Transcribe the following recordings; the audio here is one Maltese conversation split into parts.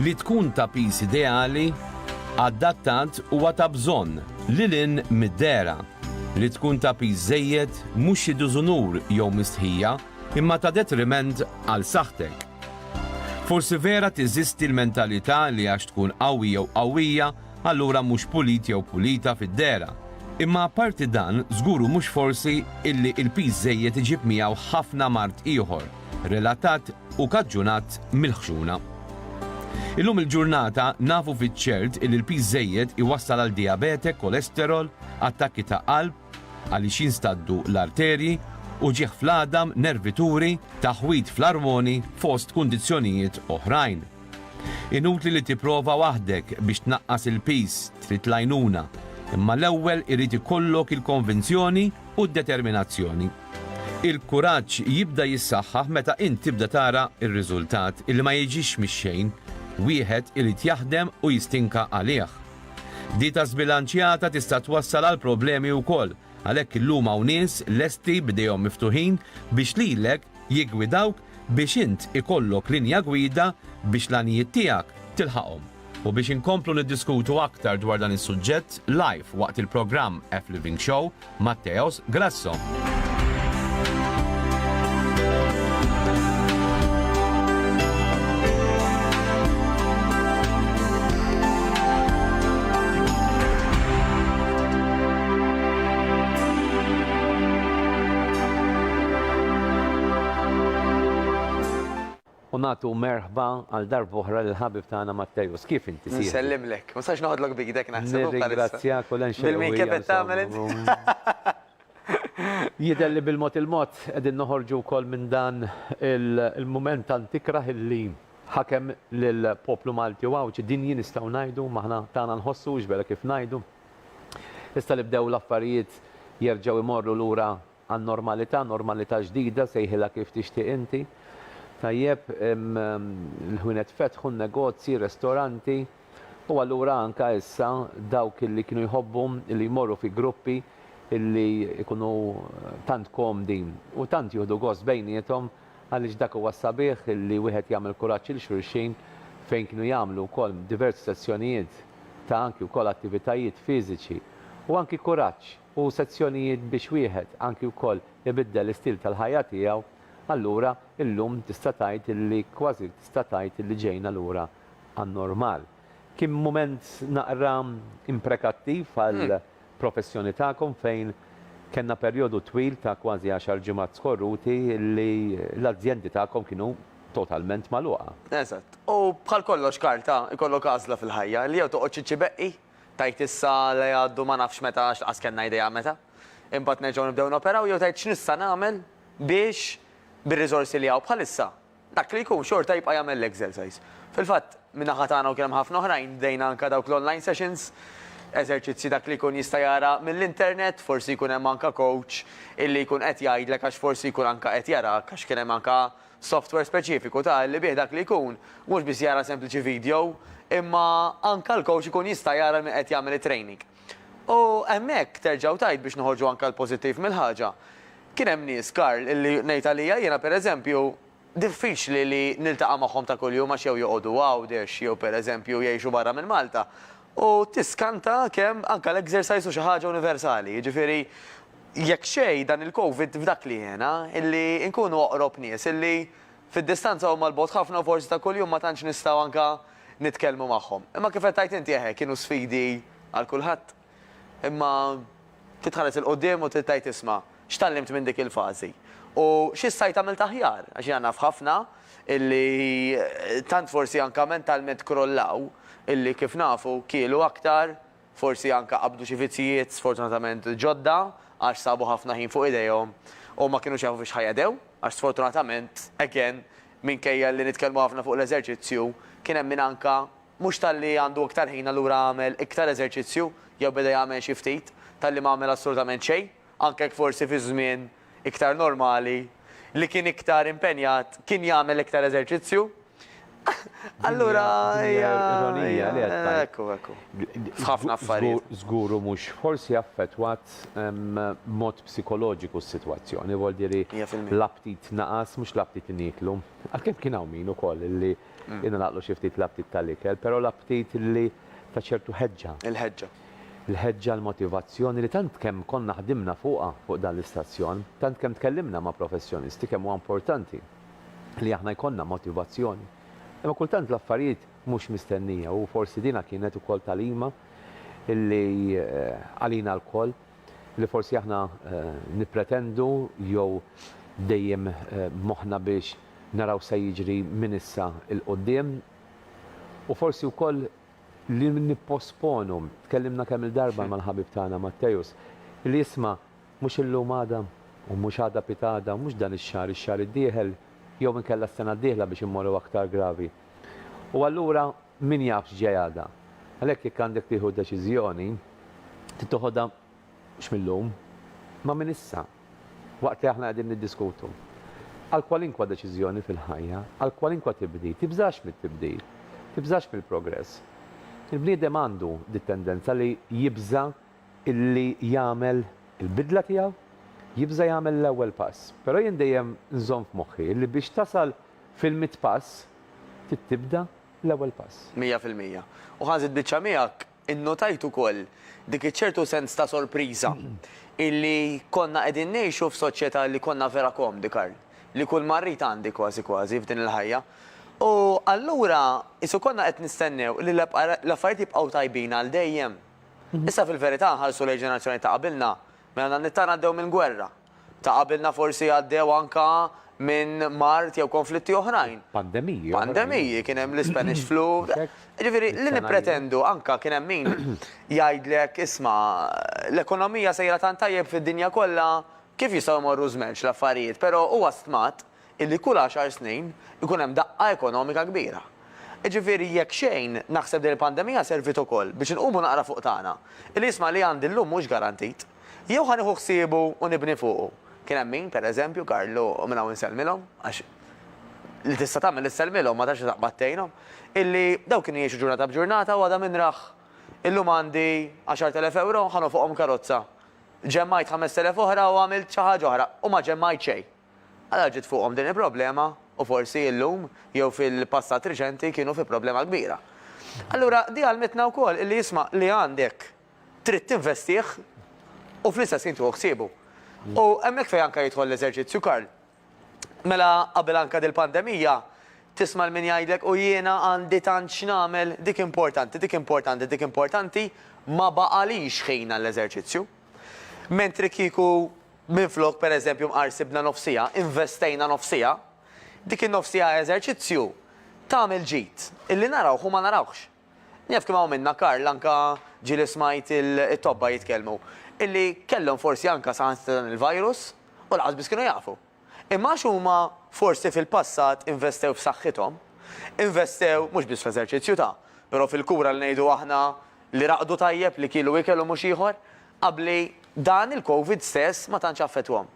li tkun ta' pis ideali, adattat u ta' bżonn lil in mid-dera. li tkun ta' piż żejjed mhux xi diżunur jew mistħija imma ta' detriment għal saħħtek. Forsi vera teżisti l-mentalità li għax tkun qawwi jew qawwija allura mhux pulit jew pulita fid-dehra. Imma apparti dan, żgur u mhux forsi illi l-piż żejjed iġib miegħu ħafna mard ieħor relatat u kaġġunat mill-ħxuna. Illum il-ġurnata nafu fiċ-ċert illi l-piż żejjed iwassal għal dijabete, kolesterol, attakki ta' qalb għaliex jinstaddu l-arterji, uġigħ fl-għadam, nervituri, taħwid fl-armoni fost kundizzjonijiet oħrajn. Inutli li tipprova waħdek biex tnaqqas il-piż, trid l-għajnuna, imma l-ewwel irid ikollok il-konvinzjoni u d-determinazzjoni. Il-kuraġġ jibda jissaħħaħ meta int tibda tara r-riżultat li ma jiġix mix-xejn, wieħed irid jaħdem u jistinka għalih. Dieta żbilanċjata tista' twassal għal problemi wkoll, għalhekk illum hawn nies lesti b'idejhom miftuħin biex lilek jiggwidawk biex int ikollok linja gwida biex l-għanijiet tiegħek tilħaqhom. U biex inkomplu niddiskutu aktar dwar dan is-suġġett live waqt il-programm F-Living Show, Matteos Grasso. U nagħtu merħba għal darb'oħra lill-ħabib tagħna Matteus. Kif inti, sieħbi? Nsellimlek. Ma nistax noħodlok b'idek naħseb. Nirringrazzjak u l-għenxerwija. Bil-minkeb qed tagħmel int. Jidher li bil-mod il-mod qegħdin noħorġu wkoll minn dan il-mument ta' ntikrah illi ħakem lill-poplu Malti u Għawdxi. Din hi nistgħu ngħidu, m'aħna tagħna nħossu, x'vera kif ngħidu. Issa li bdew l-affarijiet jerġgħu jmorru lura Għan-normalità, normalità ġdida, sejħilha kif tixtieq inti, tajjeb, il-ħwienet fetħu, negozji, restoranti, u allura anke issa dawk li kienu jħobbu li jmorru fi gruppi li jkunu tant komdi u tant jieħdu gost bejniethom, għaliex dak huwa s-sabiħ li wieħed jagħmel kuraġġ 'il xulxin, fejn kienu jagħmlu wkoll diversi sessjonijiet ta' anki wkoll attivitajiet fiżiċi u anki kuraġġ. u sezzjonijiet biex wieħed anki wkoll ibiddel l-istil tal-ħajja tiegħu, allura illum tista' tgħid illi kważi tista' tgħid illi ġejna lura għan-normal. Kien mument naqra imprekattiv għall-professjoni tagħkom fejn kellna perjodu twil ta' kważi għaxar ġimgħat skorruti illi l-azjendi tagħkom kienu totalment magħluqa. Eżatt. U bħal kollox Karl ta, ikollok għażla fil-ħajja, illi jew toqgħodx iċċibeqqi Tgħid issa li għaddu ma nafx meta għax lanqas kellna idea meta. Imbagħad nerġgħu nibdew noperaw jew tgħid x'nista' nagħmel biex bir-riżorsi li hawn bħalissa dak li jkun xorta jibqa' jagħmel l-exercise. Fil-fatt, min-naħa tagħna u kien hemm ħafna oħrajn bdejna anke dawk l-online sessions, eżerċizzji dak li jkun jista' jara mill-internet, forsi jkun hemm anke coach illi jkun qed jgħidlek għax forsi jkun anke qed jarak għax kien hemm anke Software speċifiku ta' li bih dak li jkun mhux biss jara sempliċi video imma anke l-coach ikun jista' jara min qed jagħmel it-training. U hemmhekk terġa' u tgħid biex noħorġu anke l-pożittiv mill-ħaġa. Kien hemm nies, Karl, illi ngħid għalija jiena pereżempju diffiċli li niltaqa' magħhom ta' kuljum għax jew joqogħdu Għawdex jew pereżempju jgħixu barra minn Malta u tiskanta kemm anke l-exercise hu xi ħaġa universali, jiġifieri Jekk xejn, dan il-Covid f'dak li għena, illi nkunu oqrob nies, illi fid-distanza huma 'l bogħod ħafna u forsi ta' kuljum ma tantx nistgħu anka nitkellmu magħhom. Imma kif qed tgħid inti, eħe, kienu sfidi għal kulħadd. Imma trid tħares 'il quddiem u trid tgħid isma', x'tgħallimt minn dik il-fażi? U xi stajt għamilt aħjar? Għax jiena naf ħafna illi tant forsi anka mentalment krollaw illi kif nafu kielu aktar, Forsi anke qabdu xi vizzjijiet sfortunatament ġodda għax sabu ħafna ħin fuq idejhom u ma kinux jafu fiex ħa jegħdew għax sfortunatament, again, minkejja li nitkellmu ħafna fuq l-eżerċizzju, kien hemm min anke mhux talli għandu iktar ħin allura għamel iktar eżerċizzju jew beda jagħmel xi ftit, talli ma għamel assolutament xejn. anke jekk forsi fi żmien iktar normali, li kien iktar impenjat kien jagħmel iktar eżerċizzju. Allura hija ironija li qed tgħid. Ekku, ekku. F'ħafna affarijiet. Żgur u mhux forsi affettwat b'mod psikoloġiku s-sitwazzjoni, vuol dire l-aptit naqas mhux l-aptit li nieklu. Għalkemm kien hawn min ukoll li ingħalaqlu xi ftit l-aptit tal-ikel, però l-aptit li ta' ċertu ħeġġa. Il-ħeġġa. l-ħeġġa, l-motivazzjoni li tant kemm konna ħdimna fuqha fuq dan l-istazzjon, tant kemm tkellimna ma' professjonisti kemm huwa importanti li aħna jkollna motivazzjoni. Imma kultant l-affarijiet mhux mistennija u forsi din kienet ukoll tagħlima li għalina lkoll li forsi aħna nippretendu jew dejjem b'moħħna biex naraw se jiġri minn issa 'l quddiem u forsi wkoll li nipposponu. Tkellimna kemm-il darba mal-ħabib tagħna Matteus, li jisma' mhux illum għada, u mhux għada pitgħada, u mhux dan ix-xahar ix-xahar id-dieħel, jew inkella s-sena d-dieħla biex immorru aktar gravi. U allura min jaf x'ġej għada. Għalhekk jekk għandek tieħu deċiżjoni, trid toħodha Mhux mil-lum, ma minn issa, waqt li aħna qegħdin niddiskutu. Għal kwalinkwa deċiżjoni fil-ħajja, għal kwalinkwa tibdil, tibżax mit-tibdil, tibżax mill-progress. Il-bniedem għandu dit-tendenza li jibża' illi jagħmel il-bidla tiegħu, jibża' jagħmel l-ewwel pass. Però jien dejjem nżomm f'moħħi li biex tasal fil-mitt pass trid tibda l-ewwel pass. Mija fil-mija. U ħa nżid biċċa miegħek, Innotajt ukoll dik iċ-ċertu sens ta' sorpriża illi konna qegħdin ngħixu f'soċjetà li konna vera komdi, Karl. Li kull ma rrid għandi kważi kważi f'din il-ħajja. U allura qisu konna qed nistennew li l-affarijiet jibqgħu tajbin għal dejjem. Issa fil-verità nħarsu lejn ġenerazzjonijiet ta' qabilna, mela dan it-tagħna għaddew minn gwerra. Ta' qabilna forsi għaddew anke minn mard jew konflitti oħrajn. Pandemiji. Pandemiji, kien hemm l-Ispanish flu. Jiġifieri li nippretendu anke kien hemm min jgħidlek isma' l-ekonomija sejra tant tajjeb fid-dinja kollha kif jistgħu jmorru żmerċ l-affarijiet, però huwa stmat illi kull għaxar snin ikun hemm daqqa ekonomika kbira. Jiġifieri jekk xejn naħseb din il-pandemija serviet ukoll biex inqumu naqra fuq tagħna, illi jisma' li għandi llum mhux garantit. Jew ħa nieħu ħsiebu u nibni fuqu. Kien hemm min, per eżempju, Karlu u minn hawn insellmilhom, għax li tista' tagħmel issellmilhom ma tafx li taqbad tgħinhom, illi daw kienu jgħixu ġurnata b'ġurnata u għada min rah. Illum għandi għaxart elef ewro, ħa nofqhom karozza. Ġemmajt ħamest elef oħra u għamilt xi ħaġa oħra u ma ġemmajt xejn. Għala ġiet fuqhom din il-problema u forsi illum jew fil-passat riċenti kienu fi problema kbira. Allura di għallmitna wkoll illi isma' li għandek trid tinvestih u fl-istess ħin tieħu ħsiebu. U hemmhekk fejn anke jidħol l-eżerċizzju Karl. Mela qabel anke dil-pandemija tisma' 'l min jgħidlek u jiena għandi tant x'nagħmel, dik importanti, dik importanti, dik importanti, ma baqalix ħin għall-eżerċizzju. Mentri kieku Minflok pereżempju mqar sibna nofs siegħa, investejna nofs siegħa, dik in-nofs siegħa eżerċizzju tagħmel ġid, illi narawh u ma narawhx. Naf kemm hawn minna, Karl, anke ġieli smajt it-tobba jitkellmu, illi kellhom forsi anke saħansitra dan il-virus u lanqas biss kienu jafu. Imma għax huma forsi fil-passat investew f'saħħithom, investew mhux biss fl-eżerċizzju ta', però fil-kura li ngħidu aħna li raqdu tajjeb, li kielu ikel u mhux ieħor, Qabli dan il-Covid stess ma tantx affettwahom.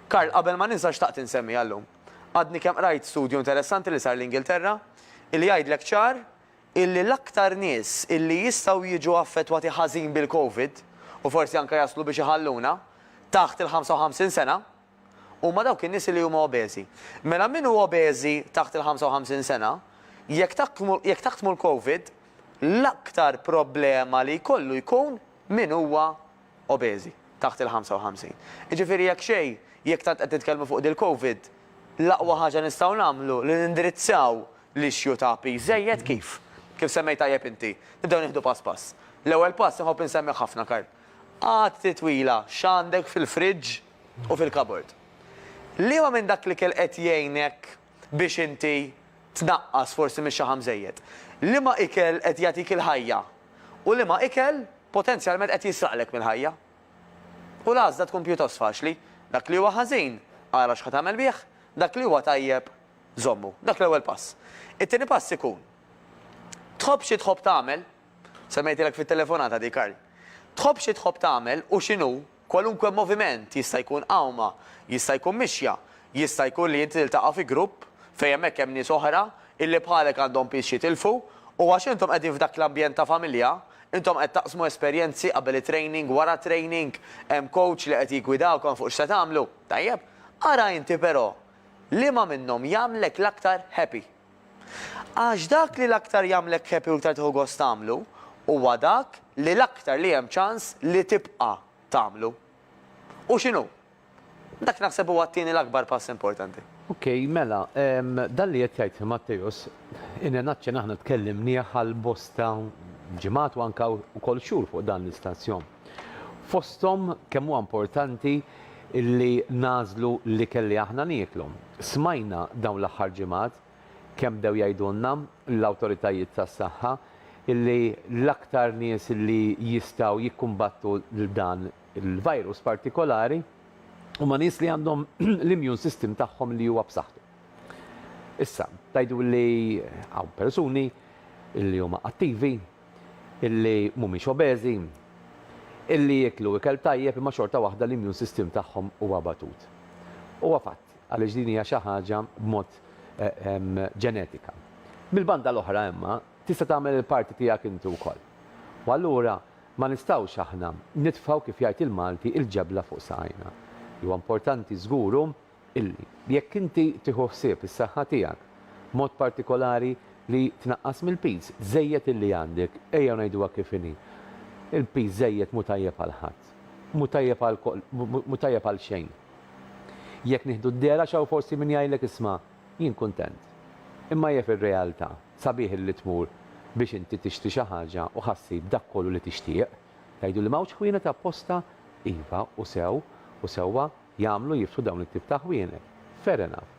Karl, qabel ma ninsa xtaqt insemmiha llum. Għadni kemm qrajt studju interessanti li sar l-Ingilterra illi jgħidlek ċar illi l-aktar nies illi jistgħu jiġu affettwati ħażin bil-Covid u forsi anke jaslu biex iħalluna taħt il-55 sena huma dawk in-nies illi huma obeżi. Mela min hu obeżi taħt il-55 sena, jekk taħkmu l-Covid, l-aktar problema li jkollu jkun Min huwa obeżi taħt il-55? Jiġifieri jekk xejn, jekk tant qed nitkellmu fuq dil-Covid, l-aqwa ħaġa nistgħu nagħmlu li nindirizzaw l-issue ta' piż żejjed kif? Kif semmejt tajjeb inti, nibdew nieħdu pass pass. L-ewwel pass inħobb insemmih ħafna Karl. Għatti twila x'għandek fil-fridge u fil-cupboard. Liema minn dak l-ikel qed jgħinek biex inti tnaqqas forsi mix-xaħam żejjed? Liema ikel qed jagħtik il-ħajja? u liema ikel potenzjalment qed jisraqlek mill-ħajja. U l-għażla tkun pjuttost faċli, dak li huwa ħażin, ara x'ħa tagħmel bih, dak li huwa tajjeb, żommu. Dak l-ewwel pass. It-tieni pass ikun, tħobb xi tħobb tagħmel, semmejtilek fit-telefonata di Karl, tħobb xi tħobb tagħmel u x'inhu Kwalunkwe moviment jista' jkun qawma, jista' jkun mixja, jista' jkun li inti tiltaqa' fi grupp fejn hemmhekk hemm nies oħra illi bħalek għandhom piż x'jitilfu u għax intom qegħdin f'dak l-ambjent ta' familja, intom qed taqsmu esperjenzi qabel it-training, wara t-training, hemm coach li qed jiggwidawkom fuq x'se tagħmlu. Tajjeb, ara inti però liema minnhom jagħmlek l-aktar happy. Għax dak li l-aktar jagħmlek happy u iktar tieħu gost tagħmlu, huwa dak li l-aktar li hemm ċans li tibqa' tagħmlu. U x'inhu? Dak naħseb huwa t-tieni l-akbar pass importanti. Ok, mela, dan li qed jgħid Matteus, in a nutshell aħna tkellimnieh għal bosta ġimgħat u anke wkoll xhur fuq dan l-istazjon. Fosthom kemm huwa importanti li nagħżlu l-ikel li aħna nieklu. Smajna dawn l-aħħar ġimgħat kemm bdew jgħidulna l-awtoritajiet tas-saħħa li l-aktar nies li jistgħu jikkumbattu dan il-virus partikolari huma nies li għandhom l-immune system tagħhom li huwa b'saħħtu. Issa, tgħidu li hawn persuni li huma attivi, illi mhumiex obeżi, illi jieklu ikel tajjeb imma xorta waħda l-immune system tagħhom huwa abbatut. Huwa fatt, għaliex din hija xi ħaġa b'mod ġenetika. Mill-banda l-oħra imma tista' tagħmel il-parti tiegħek inti wkoll. U allura ma nistgħux aħna nitfgħu kif jgħid il-Malti il-ġebla fuq saqajna. Li huwa importanti żgur hu illi, jekk inti tieħu ħsieb is-saħħa tiegħek, b'mod partikolari li tnaqqas mill-piż żejjed illi għandek, ejjew ngħiduha kif inhi, il-piż żejjed mhu tajjeb għal ħadd. Mhu tajjeb għal mhu tajjeb għal xejn. Jekk nieħdu d-dehra x'hawn forsi min jgħidlek isma' jien kuntent. Imma hija fir-realtà, sabiħ illi tmur biex inti tixtri xi ħaġa u ħa ssib dak kollu li tixtieq. Tgħiduli m'hawnx ħwienet apposta? Iva, u sew, u sewwa. jagħmlu jiftu dawn it-tip ta' ħwienet. Fair enough.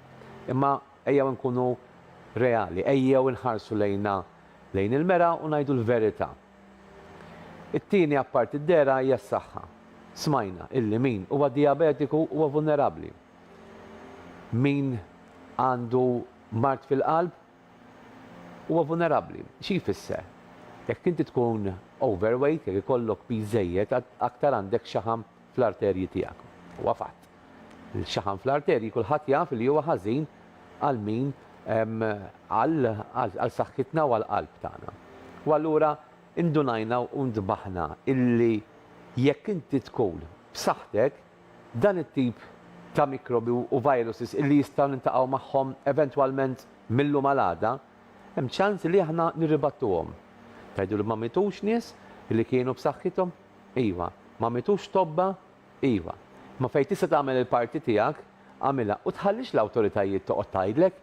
Imma ejjew inkunu reali, ejjew inħarsu lejna lejn il-mera u ngħidu l-verità. It-tieni apparti d-dehra hija s-saħħa. Smajna illi min huwa dijabetiku huwa vulnerabbli. Min għandu mard fil-qalb huwa vulnerabbli. Xi jfisser? Jekk inti tkun overweight, jekk ikollok piż żejjed, aktar għandek xaħam fl-arterji tiegħek. Huwa fatt. Xaħam fl-arterji kulħadd jaf li huwa ħażin għal min għal saħħitna u għall-qalb tagħna. U allura indunajna u ntbaħna illi jekk inti tkun b'saħħtek, dan it-tip ta' mikrobi u viruses illi jistgħu niltaqgħu magħhom eventwalment mil-lum għal għada, hemm ċans li aħna nirribattuhom. Tgħidu li ma mitux nies li kienu b'saħħithom? Iva. Ma mitux tobba? Iva. Imma fejn tista' tagħmel il-parti tiegħek, agħmilha u tħallix l-awtoritajiet toqgħod tgħidlek.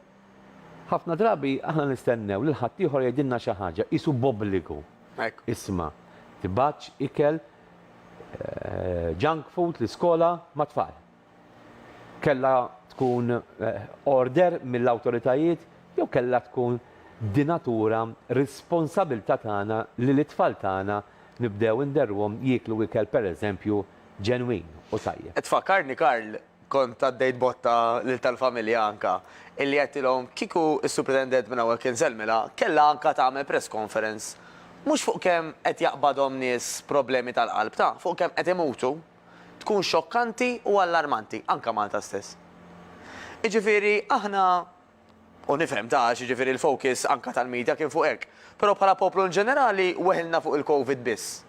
Ħafna drabi aħna nistennew lil ħaddieħor jgħidilna xi ħaġa, qisu b'obbligu. Hekk. Isma', tibgħatx ikel, junk food, l-iskola, mat-tfal. Kellha tkun order mill-awtoritajiet jew kellha tkun dinatura responsabilità tagħna li lit-tfal tagħna nibdew inderruhom jieklu ikel pereżempju ġenwin u tajjeb. Tfakkarni Karl, kont għaddejt botta lil tal-familja anka, illi għedtilhom kieku s-Supritendent minn hawnhekk insellmilha kellha anka tagħmel press conference mhux fuq kemm qed jaqbadhom nies problemi tal-qalb ta, fuq kemm qed imutu. tkun xokkanti u allarmanti, anke Malta stess. Jiġifieri aħna, u nifhem ta' għax jiġifieri l-focus anke tal-media kien fuq hekk, però bħala poplu in ġenerali weħilna fuq il-Covid biss.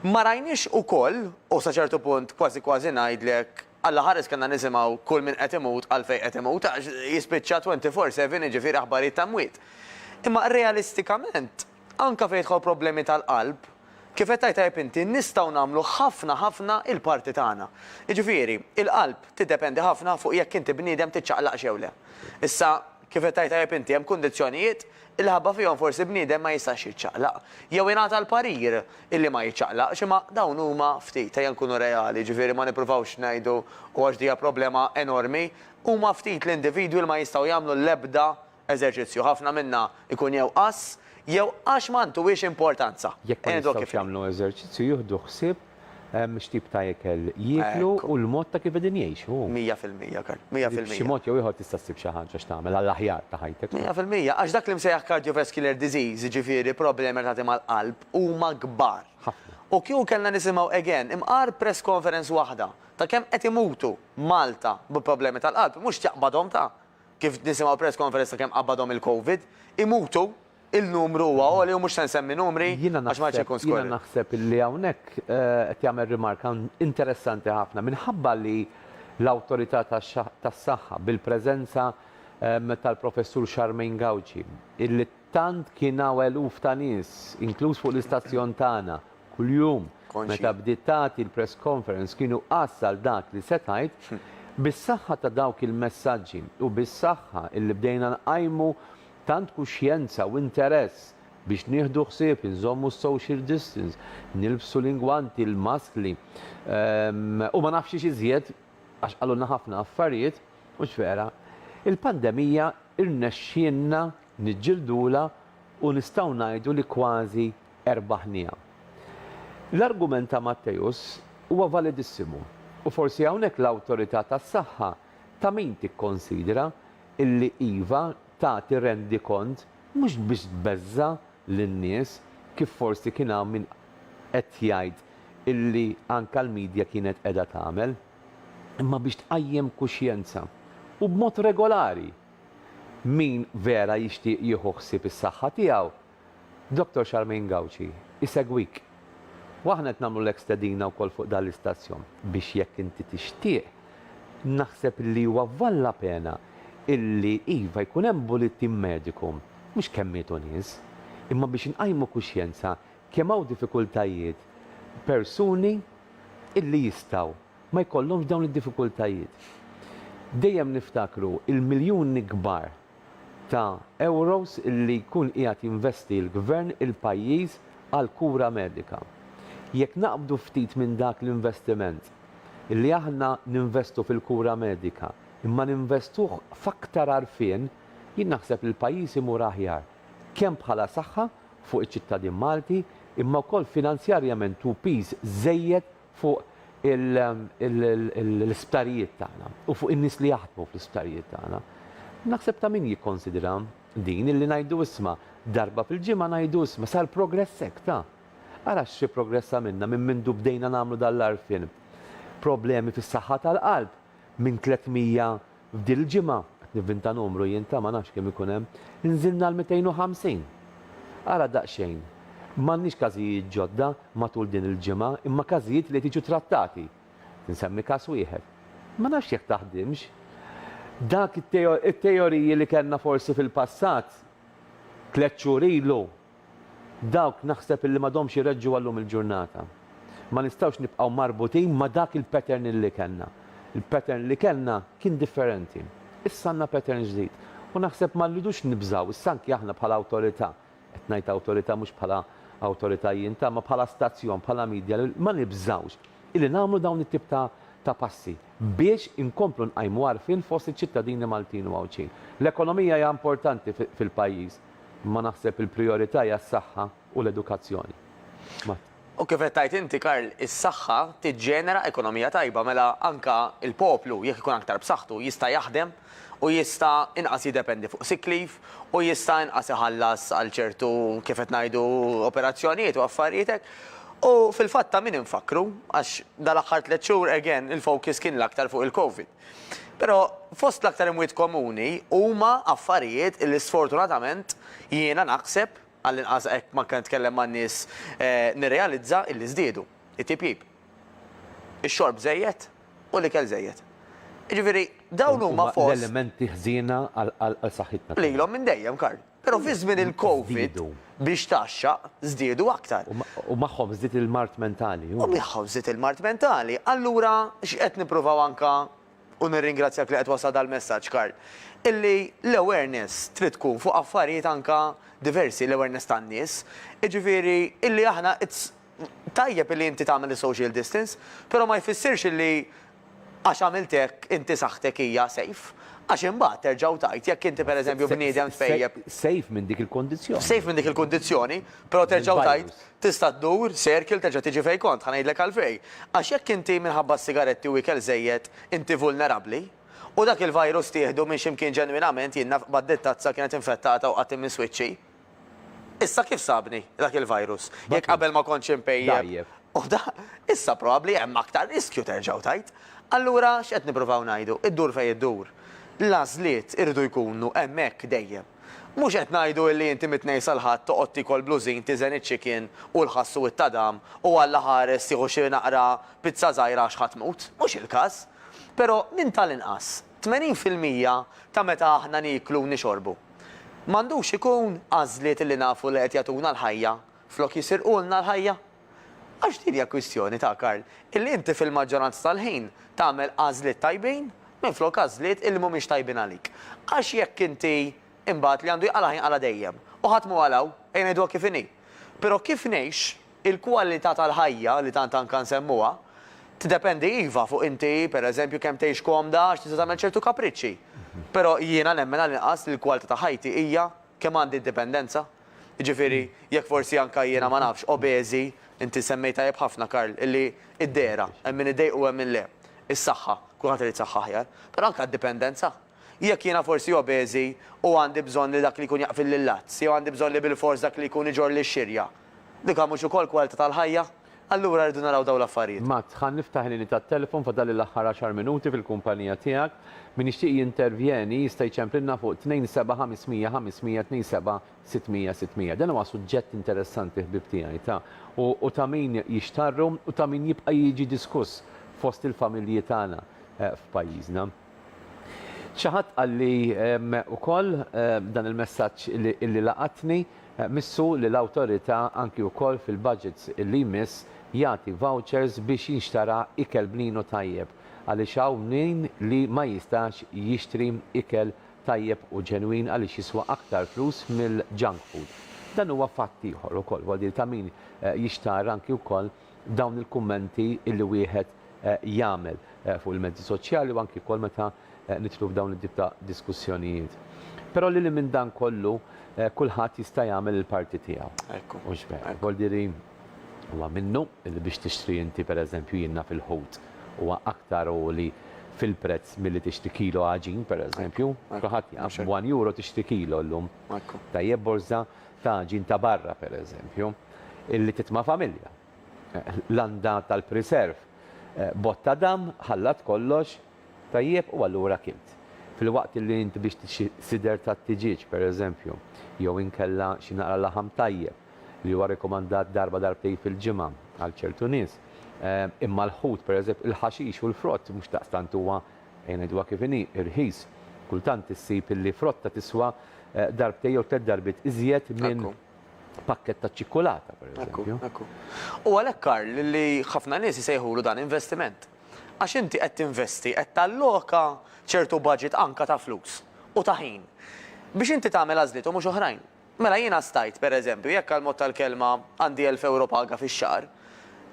Ma rajniex ukoll, u sa ċertu punt kważi kważi ngħidlek, Alla ħares kellna nisimgħu kull min qed imut għalfejn qed imut għax jispiċċa 24 seven jiġifieri aħbarijiet ta' mwiet. Imma realistikament, Anke fejn jidħol problemi tal-qalb, kif qed tgħid tajjeb inti, nistgħu nagħmlu ħafna ħafna l-parti tagħna. Jiġifieri, il-qalb tiddependi ħafna fuq jekk inti bniedem tiċċaqlaqx jew le. Issa, kif qed tgħid tajjeb inti, hemm kundizzjonijiet illi ħabba fihom forsi bniedem ma jistax jiċċaqlaq. Jew ingħata l-parir illi ma jiċċaqlaqx, imma dawn huma ftit, ejja nkunu reali, jiġifieri ma nippruvawx ngħidu, u għax din hija problema enormi, huma ftit l-individwi li ma jistgħu jagħmlu l-ebda eżerċizzju, ħafna minna jkun jew qass jew għax ma ntuhiex importanza. Jekk ma jistgħux jagħmlu eżerċizzju jieħdu ħsieb x'tip ta' ikel jieklu u l-mod ta' kif qegħdin jgħixu. Mija fil-mija, Karl. Mija fil-mija. B'xi mod jew ieħor tista' ssib xi ħaġa x'tagħmel għall-aħjar ta' ħajtek. Mija fil-mija, għax dak li msejjaħ cardiovascular disease, jiġifieri problemi relatati mal-qalb, huma kbar. Ħafna. U kieku kellna nisimgħu again imqar press conference waħda ta' kemm qed imutu Malta bi problemi tal-qalb, mhux tjaqbadhom ta'. kif nisimgħu press conference ta' kemm qabadhom il-Covid, imutu, il-numru huwa għoli u mhux se nsemmi numri għax ma rridx inkun skorrett. Jiena naħseb li hawnhekk qed jagħmel rimarka interessanti ħafna minħabba li l-Awtorità tas-Saħħa bil-preżenza tal-Professur Charmaine Gauci, Tant kien hawn eluf ta' nies, inkluż fuq l-istazzjon tagħna, kuljum. Meta bdiet tagħti l-press conference kienu qas għal dak li se tgħid. Bis-saħħa ta' dawk il-messaġġi u bis-saħħa illi bdejna nqajmu tant kuxjenza u interess biex nieħdu ħsieb inżommu s-social distance, nilbsu l-ingwanti, l-maskli u ma nafx xiex iżjed, għax qalulna ħafna affarijiet mhux vera, il-pandemija rnexxielna niġġildulha u nistgħu ngħidu li kważi erbaħniha. L-argument ta' Matteus huwa validissimu u forsi hawnhekk l-Awtorità tas-Saħħa ta' min tikkonsidra illi iva tagħti rendikont mhux biex tbeżża' lin-nies kif forsi kien hawn min qed jgħid illi anke l-media kienet qiegħda tagħmel, imma biex tqajjem kuxjenza, u b'mod regolari! Min vera jixtieq jieħu ħsieb is-saħħa tiegħu, Dottor Charmaine Gauci jsegwik. U aħna qed nagħmlulek stedina wkoll fuq dan l-istazzjon biex jekk inti tixtieq, naħseb li huwa vvall la pena illi iva jkun hemm bulletin mediku, mhux kemm mietu nies, imma biex inqajmu kuxjenza kemm hawn diffikultajiet persuni illi jistgħu. ma jkollhomx dawn id-diffikultajiet. Dejjem niftakru l-miljuni kbar ta' ewros li jkun qiegħed jinvesti l-Gvern, il-pajjiż, għall-kura medika. Jekk naqbdu ftit minn dak l-investiment, li aħna ninvestu fil-kura medika, imma ninvestuh f'aktar għarfien, jien naħseb li l-pajjiż imur aħjar, kemm bħala saħħa fuq iċ-ċittadin Malti, imma wkoll finanzjarjament hu piż żejjed fuq l-isptarijiet tagħna u fuq in-nies li jaħdmu fl-isptarijiet tagħna. Naħseb ta' min jikkonsidra din illi ngħidu isma' darba fil-ġimgħa ngħidu isma' sar progress hekk ta'. Ara xi progress għamilna minn mindu bdejna nagħmlu dan l-għarfien. Problemi fis-saħħa tal-qalb minn 300 F'din il-ġimgħa, qed nivvinta numru jien ta' ma nafx kemm ikun hemm, nżilna għal 250! Ara daqsxejn, m'għandniex każijiet ġodda matul din il-ġimgħa imma każijiet li qed jiġu trattati. Insemmi każ wieħed. Ma nafx jekk taħdimx. Dak it-teoriji li kellna forsi fil-passat, tliet xhur ilu, Dawk naħseb illi m'għadhomx ireġġu għal lum il-ġurnata. Ma nistgħux nibqgħu marbutin ma' dak il-pattern illi kellna. Il-pattern li kellna kien differenti. Issa għandna pattern ġdid. U naħseb ma rridux nibżgħu, issa anki aħna bħala awtorità, qed ngħid awtorità mhux bħala awtorità jien, ta' imma bħala stazzjon, bħala media, ma nibżgħux illi nagħmlu dawn it-tip ta' ta' passi biex inkomplu nqajmu għarfien fost iċ-ċittadini Maltin u Għawdxin. L-ekonomija hija importanti fil-pajjiż. Imma naħseb il-prijorità hija s-saħħa u l-edukazzjoni. U kif qed tgħid inti Karl, is-saħħa tiġġenera ekonomija tajba mela anke l-poplu jekk ikun aktar b'saħħtu jista' jaħdem u jista' inqas jiddependi fuq sick leave u jista' inqas iħallas għal ċertu kif qed ngħidu operazzjonijiet u affarijiet hekk. U fil-fatt ta' min infakkru għax dal-aħħar tliet xhur again il-focus kien l-aktar fuq il-Covid. Però fost l-aktar imwiet komuni huma affarijiet illi sfortunatament jiena naħseb, għall-inqas hekk manka nitkellem man-nies nirrealizza illi żdiedu. It-tipjip. Ix-xorb żejjed u l-ikel żejjed. Jiġifieri dawn huma fost. Dawn huma l-elementi ħżiena għal saħħitna. Lilhom minn dejjem, Karl. Però fi żmien il-Covid, biex tgħaxxaq, żdiedu aktar. U magħhom żdied il-mard mentali. U magħhom żdied il-mard mentali. Allura x'qed nippruvaw anke, u nirringrazzjak li qed twassal dal-messaġġ Karl, illi l-awareness trid tkun fuq affarijiet anke diversi, l-awareness tan-nies. Jiġifieri illi aħna it's Tajjeb illi inti tagħmel is-social distance, però ma jfissirx illi għax għamilt hekk inti saħħtek hija safe. Għax imbagħad terġa' u tgħid jekk inti pereżempju bniedem tpejjep. Safe minn dik il-kundizzjoni. Safe minn dik il-kundizzjoni, però terġa' u tgħid tista' ddur circle terġa' tiġi fejn kont. Ħa ngħidlek għalfejn. Għax jekk inti minħabba s-sigaretti u ikel żejjed inti vulnerabbli, u dak il-virus tieħdu minn xi mkien ġenwinament jien naf bad-dittazza kienet infettata u qatt imisswiet xi. Issa kif sabni dak il-virus? Jekk qabel ma kontx impejjep u da, issa probabbli hemm aktar riskju terġgħu tgħid. Allura x'qed nippruvaw ngħidu? Iddur fejn iddur. L-għażliet iridu jkunu hemmhekk dejjem. Mhux qed ngħidu illi inti mit-Tnejn sal-Ħadd toqgħod tiekol blużin, tiżen iċ-chicken u l-ħass u t-tadam u Alla ħares tieħu xi naqra pizza żgħira għax ħa tmut. Mhux il-każ. Però minn tal-inqas 80 fil-mija ta' meta aħna nieklu u nixorbu. M'għandux ikun għażliet li nafu li qed jagħtuna l-ħajja flok jisirqulna l-ħajja? Għax din hija kwistjoni, ta' Karl, illi inti fil-maġġoranza tal-ħin tagħmel għażliet tajbin minflok għażliet illi mhumiex tajbin għalik. Għax jekk inti imbagħad li għandu jqala' ħajnqala' dejjem. U ħadd mhu qalaw, ejja ngħiduha kif inhi. Però kif ngħix? Il-kwalità tal-ħajja, li tant anka nsemmuha, tiddependi iva fuq inti, per eżempju, kemm tgħix komda għax tista' tagħmel ċertu kapriċċi. Però jiena nemmen għall-inqas li l-kwalità ta' ħajti hija kemm għandi indipendenza. Jiġifieri, jekk forsi anka jiena ma nafx, obeżi, inti semmejt tajjeb ħafna, Karl, illi d-dehra, hemm min iddejqu u hemm min le. Is-saħħa, kulħadd irid saħħa aħjar. Però anka d-dipendenza. Jekk jiena forsi obeżi u għandi bżonn li dak li jkun jaqfilli l-lazz, jew għandi bżonn li bilfors dak li jkun iġorrli x-xirja, dik mhux ukoll kwalità tal-ħajja? Allura rridu naraw dawn l-affarijiet. Mats, Ħa niftaħ il-linji tat-telfon, fadalli l-aħħar għaxar minuti fil-kumpanija tiegħek. Min jixtieq jintervjeni jista' jċemplilna fuq 27500-500-27-600-600. Dan huwa suġġett interessanti ħbieb tiegħi ta' u ta' min jixtarru u ta' min jibqa' jiġi diskuss fost il-familji tagħna f'pajjiżna. Xi ħadd qalli wkoll dan il-messaġġ li laqatni, Missu li l-Awtorità anki wkoll fil-budget li jmiss jagħti vouchers biex jinxtara ikel bninu tajjeb għaliex hawn min li ma jistax jixtri ikel tajjeb u ġenwin għaliex jiswa aktar flus mill-junk food. Dan huwa fatt ieħor ukoll, huwa deal ta' min jixtar anki wkoll dawn il-kummenti illi wieħed jagħmel fuq il-mezzi soċjali u anki wkoll meta nidħlu f'dawn it-tip ta' diskussjonijiet. Però lil hinn minn dan kollu kulħadd jista' jagħmel il-parti tiegħu. Ekku. Mhux vera. Vol diri huwa minnu li biex tixtri inti pereżempju jien naf il-ħut huwa aktar għoli fil-prezz milli tixtri kilo għaġin pereżempju. Kulħadd jaf, b'one euro tixtri kilo llum. Ekku. Tajjeb borża ta' ġin ta' barra, pereżempju, illi titma' familja. Landa tal-priserv b'għodd ta' damm ħallat kollox tajjeb u allura kilt. Filwaqt illi int biex xi sider tat-tiġieġ, pereżempju, jew inkella xi naqra laħam tajjeb, li huwa rikomandat darba darbtejn fil-ġimgħa għal ċertu nies, imma l-ħut, pereżempju, il-ħaxix u l-frott mhux daqstant huwa. Ejja ngħiduha kif inhi, irħis. Kultant issib illi frotta tiswa darbtejn jew tliet darbiet iżjed minn pakkett ta' ċikkulata, pereżempju. Ekku, ekku. U għalhekk, Karl, li ħafna nies isejħulu dan investiment. Għax inti qed tinvesti, qed talloka ċertu budget anke ta' flus u ta' ħin biex inti tagħmel għażliet u mhux oħrajn. Mela jiena stajt, per eżempju, jekk għal mod tal-kelma għandi elf ewro paga fix-xahar,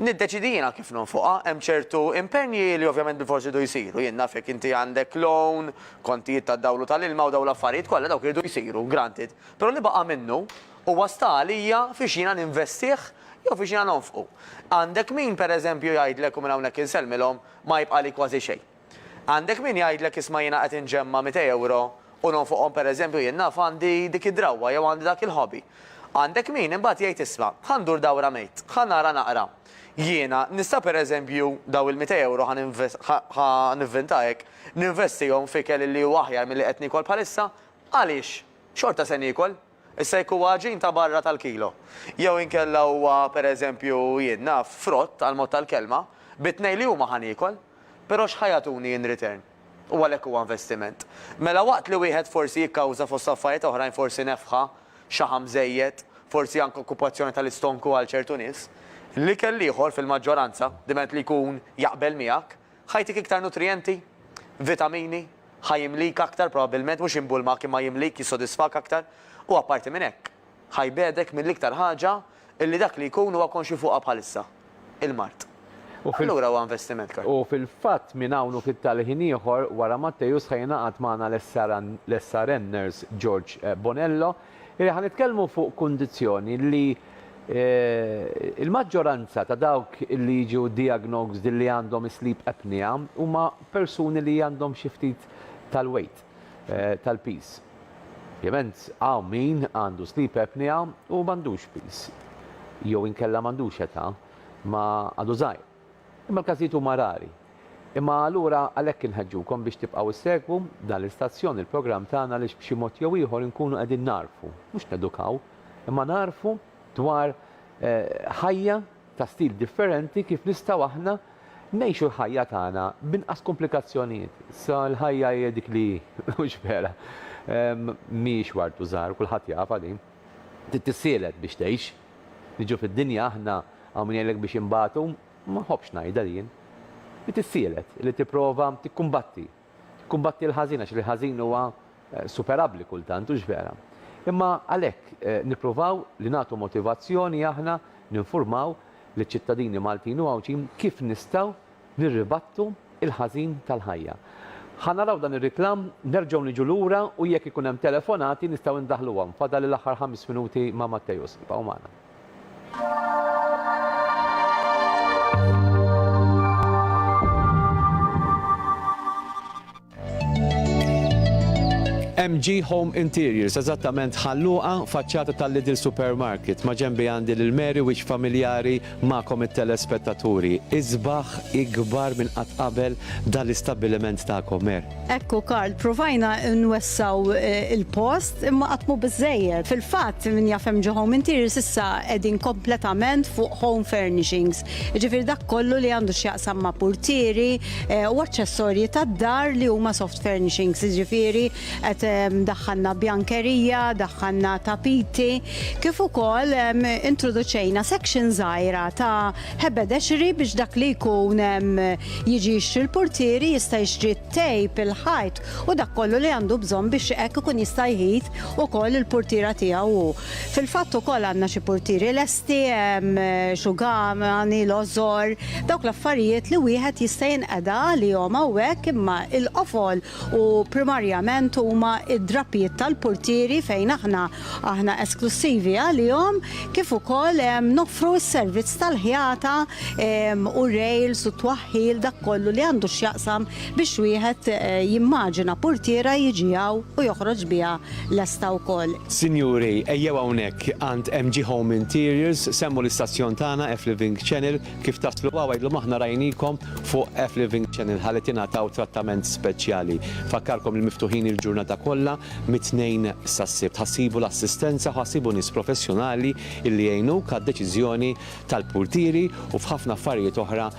niddeċiedi jiena kif nonfoqha, hemm ċertu impenji li ovvjament bilfors iridu jsiru, jien naf jekk inti għandek loan, kontijiet tad-dawl u tal-ilma u dawn l-affarijiet kollha dawk iridu jsiru, granted, però li baqa' minnu huwa sta għalija fiex jiena ninvestih jew fiex jiena nonfqu. Għandek min, per eżempju, jgħidlek u minn hawnhekk insellmilhom, ma jibqagħli kważi xejn. Għandek min jgħidlek isma' jiena qed inġemma' mitej ewro u nonfoqhom pereżempju jien naf għandi dik id-drawwa jew għandi dak il-hobby. Għandek min imbagħad jgħid isma' ħa ndur dawra mejt, ħa nara naqra. Jiena nista' pereżempju dawn il-mitej ewro ħa ħa nivvinta hekk, ninvestihom f'ikel li huwa aħjar milli qed niekol bħalissa? Għaliex? Xorta se niekol. Issa jekk huwa għaġin ta' barra tal-kilo, jew inkella huwa, per eżempju, jien naf, frott, għall-mod tal-kelma, bit-tnejn li huma ħa niekol. Però x'ħa jagħtuni in return? U għalhekk huwa investiment. Mela waqt li wieħed forsi jikkawża fost affarijiet oħrajn forsi nefħa, xaħam żejjed, forsi anke okkupazzjoni tal-istonku għal ċertu nies, l-ikel l-ieħor fil-maġġoranza, diment li jkun jaqbel miegħek, ħa jtik iktar nutrijenti, vitamini, Ħa jimlik aktar, probabbilment mhux imbulmak imma jimlik, jissodisfak aktar, u apparti minn hekk, ħa jbegħdek mill-iktar ħaġa li dak li jkun huwa konxju fuqha bħalissa, il-mard. Allura huwa investiment, Karl. U fil-fatt minn hawn u ftit tal-ħin ieħor wara Matteus ħa jingħaqad magħna l-SRNers George Bonello Ejja, ħa nitkellmu fuq kundizzjoni li l-maġġoranza ta' dawk li jiġu diagnosed li għandhom is-sleep apnea huma persuni li għandhom xi ftit tal-weight, tal-piż. Ovvjament hawn min għandu sleep apnea u m'għandux piż jew inkella m'għandux età, ma għadu żgħir. Imma l-każijiet huma rari. Imma allura għalhekk inħeġġukom biex tibqgħu ssegwu b'dan l-istazzjon il-programm tagħna għaliex b'xi mod jew ieħor inkunu qegħdin nagħrfu, mhux nedukaw, imma nagħrfu dwar ħajja ta' stil differenti kif nistgħu aħna ngħixu l-ħajja tagħna b'inqas kumplikazzjonijiet. Issa l-ħajja hija dik li hi, hux vera? Mhijiex wartu żgħar, kulħadd jafha din. Trid tissielet biex tgħix. Niġu fid-dinja aħna hawn min jgħidlek biex inbatu, ma nħobbx ngħidha li jien. Li tissielet, li tipprova tikkumbatti. Tikkumbatti l-ħażin għax il-ħażin huwa superabbli kultant, hux vera? Imma għalhekk nippruvaw li nagħtu motivazzjoni aħna, ninfurmaw liċ-ċittadini Maltin u Għawdxin kif nistgħu Nirribattu il-ħażin tal-ħajja. Ħa naraw dan ir-reklam, nerġgħu niġu lura u jekk ikun hemm telefonati nistgħu indaħħluhom. Fadal l-aħħar ħames minuti ma' Matteus. Ibqgħu magħna. MG Home Interiors, eżattament Ħal Luqa, faċċata tal-Lidl Supermarket. Maġenbi għandi lil Mary wiċċ familjari magħkom it-telespettaturi. Isbaħ ikbar minn qatt qabel dan l-istabbiliment tagħkom, Mer. Ekku Karl, provajna nwessgħu l-post imma qatt mhu biżżejjed. Fil-fatt, min jaf MG Home Interiors issa qegħdin kompletament fuq home furnishings. Jiġifieri dak kollu li għandu x'jaqsam ma' purtieri u aċċessorji tad-dar li huma soft furnishings, jiġifieri qed daħħalna bjankerija, daħħalna tapiti, kif ukoll introduċejna section żgħira ta' ħebedexri biex dak li jkun jiġi jixtri l-purtieri jista' jixtri t-tejp, il-ħajt u dak kollu li għandu bżonn biex hekk ikun jista' jħit ukoll il-purtiera tiegħu hu. Fil-fatt ukoll għandna xi purtieri lesti, hemm Xugham, Anil Ozor, dawk l-affarijiet li wieħed jista' jinqeda għalihom hawnhekk imma l-qofol u primarjament huma d-drapijiet tal-purtieri fejn aħna aħna esklussivi għalihom kif ukoll noffru s-servizz tal-ħjata u r-rails u t-twaħħil dak kollu li għandu x'jaqsam biex wieħed jimmaġina purtiera jiġi hawn u joħroġ biha lesta wkoll. Sinjuri, ejjew hawnhekk għand MG Home Interiors, semmu l-istazzjon tagħna F-Living Channel, kif taslu hawn għidlhom aħna rajnikom fuq F-Living Channel ħalli tingħataw trattament speċjali. Nfakkarkom li miftuħin il-ġurnata kollha mit-Tnejn sas-Sibt. Ħa ssibu l-assistenza u ħa ssibu nies professjonali li jgħinuk għad-deċiżjoni tal-purtieri u f'ħafna affarijiet oħra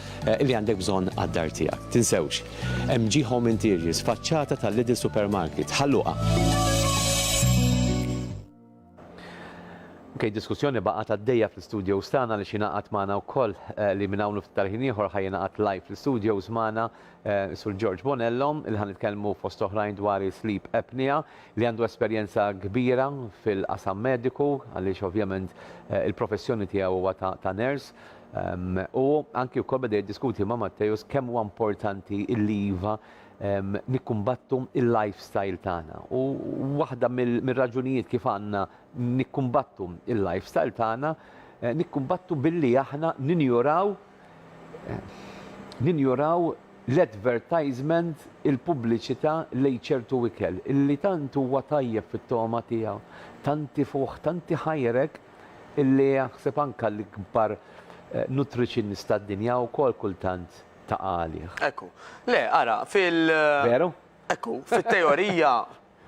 li għandek bżonn għad-dar tiegħek. Tinsewx! MG Home Interiors, faċċata ta' Lidl Supermarket, Ħal Luqa. Ok, diskussjoni baqgħet għaddejja fl-studios tagħna li xinaqat magħna wkoll eh, li minn hawn ftit ħin ieħor ħajjinaqat live fl-studios magħna eh, sur George Bonello il ħan nitkellmu fost oħrajn dwar sleep apnea li għandu esperjenza kbira fil-qasam mediku għaliex ovvjament eh, il-professjoni tiegħu huwa ta' nurse U anki wkoll beda jiddiskuti ma' Matteus kemm huwa importanti li iva nikkumbattu il-lifestyle tagħna. U waħda mill-raġunijiet kif għandna nikkumbattu il-lifestyle tagħna, eh, nikkumbattu billi aħna ninjuraw eh, ninjuraw l-advertisement, il-pubbliċità lejn ċertu ikel, illi tant huwa tajjeb fit-togħma tiegħu, tanti fuħ, tanti ħajrek, illi aħseb anke l-ikbar nutritionist tad-dinja wkoll kultant taqa' għalih. Ekku. Le, ara, fil. Veru? Ekku, fit-teorija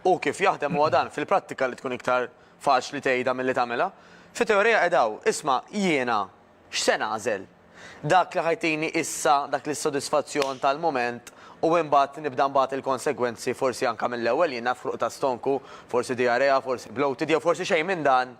hu kif jaħdem huwa dan, fil-prattika li tkun iktar faċli tgħidha milli tagħmilha. Fit-teorija qed hawn, isma' jiena X'se nagħżel? Dak li ħajtini issa dak l-issodisfazzjon tal-mument u imbagħad nibda nbat il-konsegwenzi forsi anke mill-ewwel jien naf ħruq ta' stonku, forsi diarrea, forsi bloated jew forsi xejn minn dan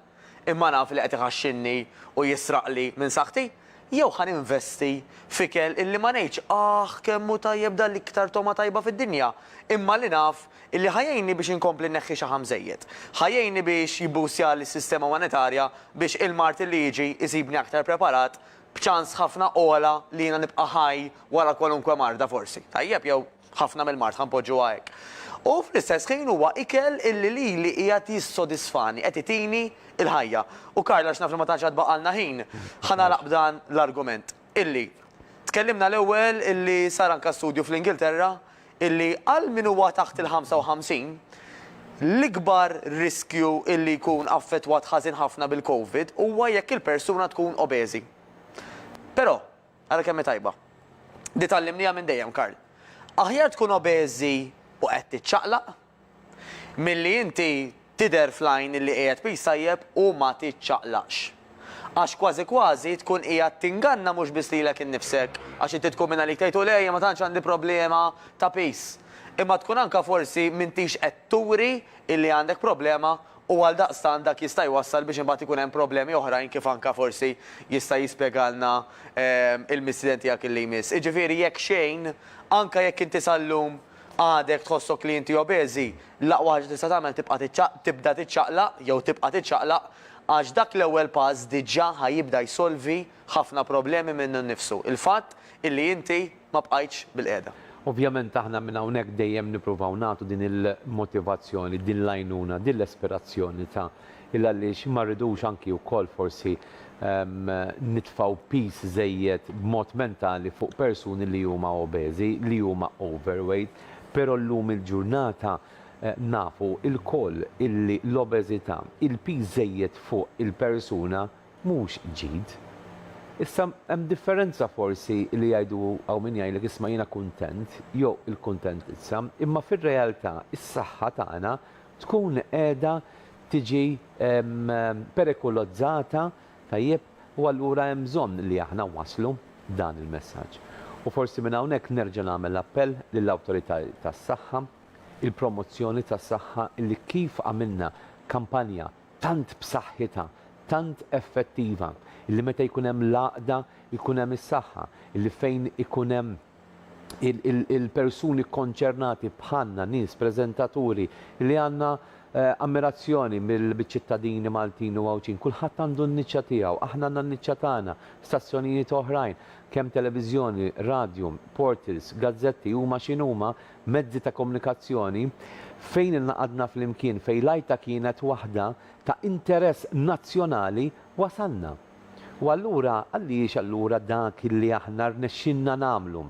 imma naf li qed iħaxxinni u jisraqli minn saħħti? Jew ħa ninvesti f'ikel illi ma ngħidx aħ kemm hu tajjeb dan l-iktar togħma tajba fid-dinja imma li naf Illi ħa jgħinni biex inkompli nneħħi xaħam żejjed. Ħa jgħinni biex jibboostjali s-sistema monetarja biex il-Martin li jiġi jsibni aktar preparat b'ċans ħafna ogħla li jiena nibqa' ħaj wara kwalunkwe marda forsi. Tajjeb, jew ħafna mill-mard, ħa npoġġuha hekk. U fl-istess ħin huwa ikel illi lili qiegħed jissodisfani, qed itini l-ħajja. U Karl, għax naf li ma tantx għad baqgħalna ħin, ħa nagħlaq b'dan l-argument. illi tkellimna l-ewwel illi sar anke studju fl-Ingilterra illi għal min huwa taħt il-55, l-ikbar riskju illi jkun affettwat ħażin ħafna bil-Covid huwa jekk il-persuna tkun obeżi. Però, ara kemm hi tajba. Di tgħallimniha minn dejjem, Karl. Aħjar tkun obeżi u qed tiċċaqlaq, Milli inti tidher fl-għajn illi qiegħed piż tajjeb u ma tiċċaqlaqx. Għax kważi kważi tkun qiegħed tinganna mhux biss lilek innifsek, għax inti tkun minn għalik tgħid u lejja ma tantx għandi problema ta' piż, imma tkun anke forsi m'intix qed turi illi għandek problema u għaldaqstant dak jista' jwassal biex imbagħad ikun hemm problemi oħrajn kif anke forsi jista' jispjegalna il-mistieden tiegħek illi jmiss. Iġifieri jekk xejn, anke jekk inti sal-lum, Għadek tħossok li inti obeżi? L-aqwa ħaġa li tista' tagħmel tibqa' tiċċaq, tibda tiċċaqlaq jew tibqa' tiċċaqlaq għax dak l-ewwel pass diġà ħa jibda jsolvi ħafna problemi minnu nnifsu, il-fatt illi inti ma bqajtx bil-qiegħda. Ovvjament aħna minn hawnhekk dejjem nippruvaw nagħtu din il-motivazzjoni, din l-għajnuna, din l-ispirazzjoni ta' Illa għaliex ma rridux anki wkoll forsi nitfgħu piż żejjed b'mod mentali fuq persuni li huma obeżi, li huma overweight. Però llum il-ġurnata nafu lkoll illi l-obeżità, il-piż żejjed fuq il-persuna mhux ġid. Issa hemm differenza forsi li jgħidu hawn min jgħidlek isma' jiena kuntent jew il-kuntentizza, imma fir-realtà is-saħħa tagħna tkun qiegħda tiġi perikolozzata, tajjeb, u allura hemm bżonn li aħna nwasslu dan il-messaġġ. U forsi minn hawnhekk nerġa' nagħmel appell lill-awtoritajiet tas-saħħa, il-promozzjoni tas-saħħa li kif għamilna kampanja tant b'saħħitha, tant effettiva, illi meta jkun hemm l-għaqda jkun hemm is-saħħa, illi fejn ikun hemm il-persuni kkonċernati bħalna, nies, preżentaturi, li għandna ammirazzjoni mill-ċittadini Maltin u Għawdxin. Kulħadd għandu n-niċċa tiegħu, aħna għandna n-niċċa tagħna, stazzjonijiet oħrajn, kemm televiżjoni, radju, portals, gazzetti, huma x'inhuma, mezzi ta' komunikazzjoni, fejn ingħaqadna flimkien, fejn l-għajta kienet waħda ta' interess nazzjonali, wasalna. U allura, għaliex allura dak li aħna rnexxielna nagħmlu,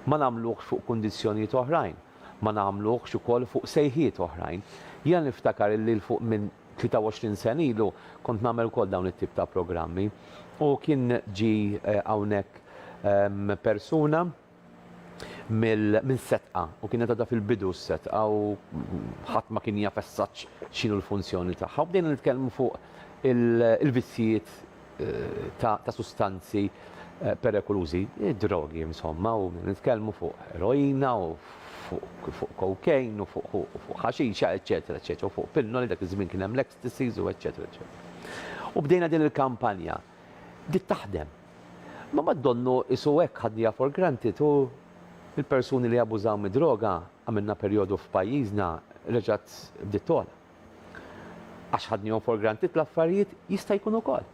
ma nagħmluhx fuq kundizzjonijiet oħrajn, ma nagħmluhx ukoll fuq sejħiet oħrajn? Jiena niftakar illi 'l fuq minn 23 sena ilu kont nagħmel ukoll dawn it-tip ta' programmi u kien ġie hawnhekk persuna, minn setqa u kienet għadha fil-bidu s-setqa u ħadd ma kien jaf as-saġġ x'inhu l-funzjoni tagħha u bdejna nitkellmu fuq il-vizzjijiet ta' sustanzi perekulużi, id-drogi insomma u bdejna nitkellmu fuq eroina u fuq cocaine u fuq ħaxixa eċċetera eċċetera u fuq pinnoli dak iż-żmien kien hemm l-ecstacies u eċċetera eċċetera. U bdejna din il-kampanja. Bdiet taħdem. Ma ma donnu qisu hekk ħadniha for granted u l-persuni li abużaw mid-droga, għamilna perjodu f'pajjiżna, reġgħet bdiet togħla. Għax ħadnihom for granted l-affarijiet, jista' jkun ukoll.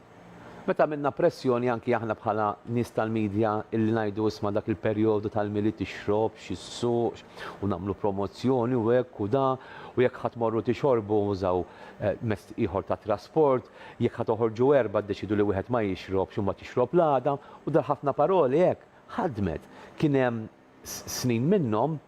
Meta għamilna pressjoni anki aħna bħala nies tal-media illi ngħidu isma' dak il-perjodu tal-Milied tixrobx, issukx u nagħmlu promozzjoni u hekk u da u jekk ħa tmorru tixorbu użaw mezz ieħor ta' trasport Jekk ħa toħorġu erbgħa ddeċiedu li wieħed ma jixrobx u ma tixrob l-għada u dar ħafna paroli hekk ħadmet. Kien hemm snin minnhom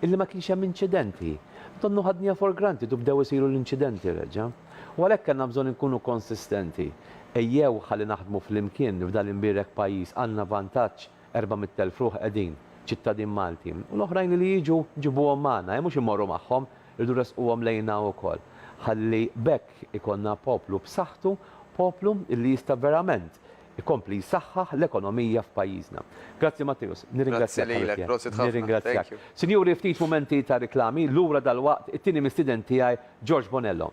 illi ma kienx hemm inċidenti. Donnu ħadniha for granted u bdew isiru l-inċidenti reġa'. U għalhekk kellna bżonn inkunu konsistenti. Ejjew ħalli naħdmu flimkien f'dan l-imbierek pajjiż għandna vantaġġ Erba' mitt elf ruħ qegħdin, ċittadin Malti. U l-oħrajn li jiġu nġibuhom magħna, mhux immorru magħhom, irridu nressquhom lejna wkoll. Ħalli b'hekk ikollna poplu b'saħħtu, poplu li jista' verament ikompli jsaħħaħ l-ekonomija f'pajjiżna. Grazzi Matteus, nirringrazzjak ħabib tiegħi. Grazzi lilek, prosit ħafna, thank you. Sinjuri ftit mumenti ta' riklami, lura dalwaqt it-tieni mistieden tiegħi George Bonello.